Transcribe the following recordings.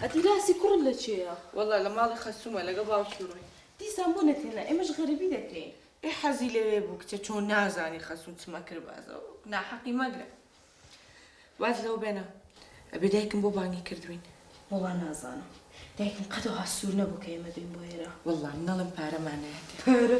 ئەدیداسی کوڕت لە کێیە؟ وەڵا لە ماڵی خەسوومە لەگەڵ باوکی ڕۆی. دیسان بۆ نەتێنا ئێمەش غەریبی دەکەین. ئێ حەزی لەوێ بوو کچە چۆن نازانی خەسوو چما کرد بازە ناحەقی مەگرە واز لەوە بێنە ئەبێ دایکم بۆ بانگی کردوین. وەڵا نازانم دایکم قەت وەها سوور نەبوو کە ئێمە بێین بۆ ئێرە. وەڵا منەڵێم پارەمان نایەتێ. پارە؟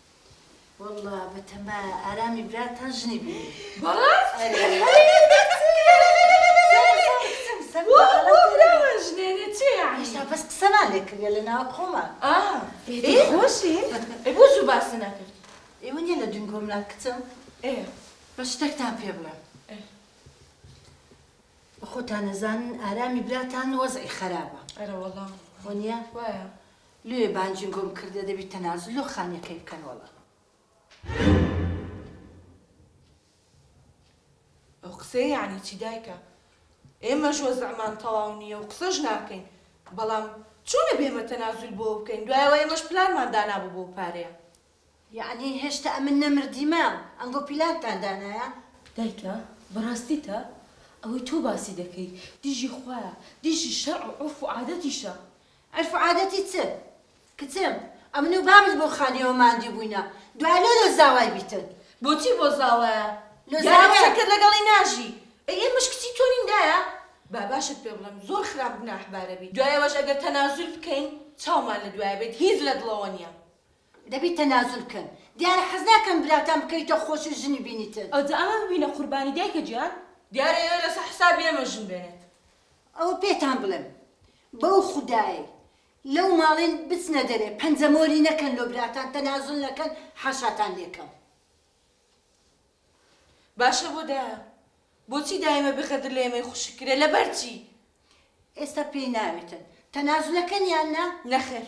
واللە بەتەما ئارامی براتان ژنی بینی بەڵا ئێستا بەس قسەمان لێ کردە لە ناو خۆمان خۆشی بۆ زوو باسی نەکرد ئێوە نیە لە دون گۆمنا کچم بە شتێکتان پێ بڵێ خۆتان نەزانن ئارامی براتان وەزعی خراپە ئەرەوەڵام وە نیە وایە لۆیە بانگیم بۆ بکردە دەبی تەنازول لۆ خانیەکەی بکەن وەڵا. ئەو قسەیە یانی چی دایکە ئێمەش وەزعمان تەواو نیە و قسەش ناکەین بەڵام چۆن ئەبێ ئێمە تەنازول بۆ بکەین دوای ئەوە ئێمەش پلانمان دانابوو بۆ پارەیە. یەعنی هێشتا ئەمن نەمردیمە ئەنگۆ پیلانتان دانایە. دایکە بەڕاستیتە ئەوەی تۆ باسی دەکەی دژی خوایە دژی شەرع و عورف و عادەتیشە. عەرف و عادەتی چ کچم ئەمن و بابت بۆ خانیەوە ماندی بووینە دوای لۆ لۆ زاوای بیتن. بۆچی بۆ زاوایە لۆ زاوایە. یانی قسەکرد لەگەڵی ناژی ئەی ئێمەش کچی تۆ نین دایە با باشت پێ بڵێم زۆر خراپ گوناحبارە بی دوای ئەوەش ئەگەر تەنازول بکەین چاومان لە دوایە بێت هیچ لە دڵەوە نیە دەبی تەنازول بکەن دیارە حەز ناکەن براتان بکەویتە خۆش و ژنی بینیتن. ئەوجا ئەمە ببینە قوربانی دایکە گیان. دیارە ئێوە لەسەر حسابی ئێمە ژن بێنێت. ئەوە پێتان بڵێم بەو خودایەی لەو ماڵەین بچنە دەرێ پەنجە مۆری نەکەن لۆ براتان تەنازول نەکەن حاشاتان لێکەم. باشە بۆ دایە بۆچی دایمە بێ غەدر لە ئێمەی خوشک کرێ لەبەر چی. ئێستا پێی ناوێتن تەنازولەکەن یان نا؟ نەخێر.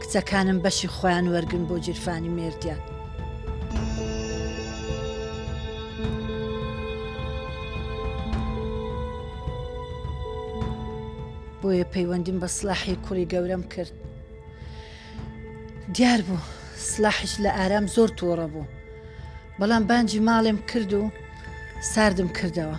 کچەکانم بەشی خۆیان وەرگرن بۆ گیرفانی مێردیان. بۆیە پەیوەندیم بە سلاحی کوڕی گەورەم کرد دیار بوو سلاحش لە ئارام زۆر تۆڕە بوو بەڵام بانجی ماڵێم کرد و ساردم کردەوە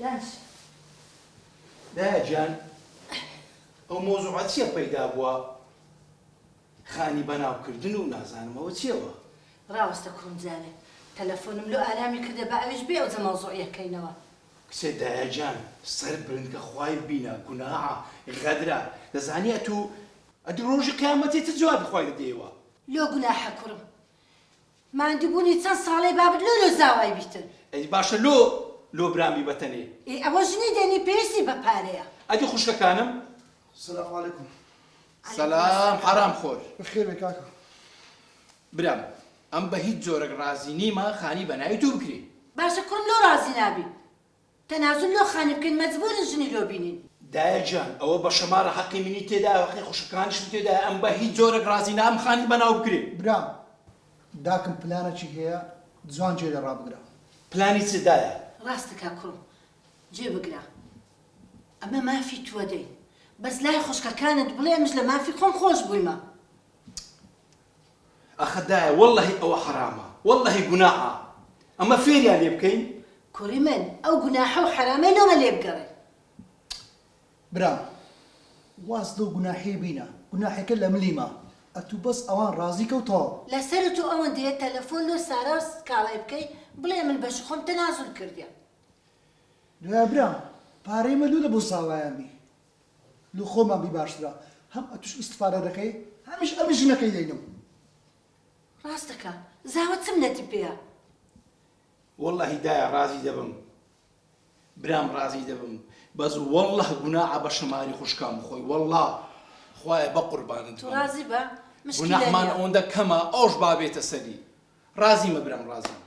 باشە دایە گیان ئەو مەوزوعە چیە پەیدا بووە خانی بەناو کردن و نازانم ئەوە چیە وا. ڕاوەستە کوڕم جارێ تەلەفۆنم لۆ ئارامی کردە با ئەویش بێ ئەوجە مەوزوعیە کەینەوە. کچێ دایە گیان سەر برنکە خوای بینە گوناحە غەدرە دەزانی ئەتوو ئەتوو ڕۆژی قیامەتی چ جوابی خوای دەدەیەوە. لۆ گوناحە کوڕم ماندوو بونی چەن ساڵەی بابت لۆ لۆ زاوای بیتن. ئەدی باشە لۆ لۆ برام بی بەتەنێ. ئێ ئەوە ژنی دەنی پێویستی بە پارەیە. ئەدی خوشکەکانم. سلام علیکم. سلام حەرام خۆر. بەخێر بێ کاکە. برام ئەم بە هیچ جۆرەک ڕازی نیمە خانی بە ناوی تۆ بکرێ. باشە کوڕم لۆ ڕازی نابی. تەنازول لۆ خانی بکەین مەجبورن ژنی لۆ بینین. دایە گیان ئەوە بە شەماڕە حەقی منی تێدایە و حەقی خوشکەکانیشم تێدایە ئەم بە هیچ جۆرەک ڕازی نابم خانی بەناو بکرێ. برام داکم پلانەکی هەیە جوان گوێ لێ ڕابگرە. پلانی چ دایە؟ ڕاستە کاک کوڕم گوێ بگرە ئەمە مافی توە دەی بەس لای خوشکەکانت بڵێ منش لە مافی خۆم خۆش بویمە. ئەخە دایە وەللەهی ئەوە حەرامە وەللەهی گوناحە ئەمە فێریان لێ بکەین. کوڕی من ئەو گوناحە و حەرامەی لۆمە لێ بگەڕێ. برام واز لەو گوناحەی بینە گوناحەکە لە ملی مە ئەتوو بەس ئەوان ڕازی کە و تەواو. لەسەر تۆ ئەوەندەیە تەلەفۆن لۆ سارا و سکاڵای بکەی بڵێ من بەشی خۆم تەنازول کردیە. دوایە برام پارەی مە لۆ لە بۆ ساوایان بی لۆ خۆمان بی باشترە هەم ئەتوش ئیستفادە دەکەی هەمیش ئەمن ژنەکەی دەینم. ڕاست دەکا زاوە چ منەتی پێیە. وەڵاهی دایە ڕازی دەبم برام ڕازی دەبم بەس وەڵا گوناعە بە شەماری خوشکان بخۆی وەڵا خوایە بە قوربانت بم ڕازی بە گوناحمان ئەوەندە کەمە ئەوش بابێتە سەری ڕازیمە برام ڕازیمە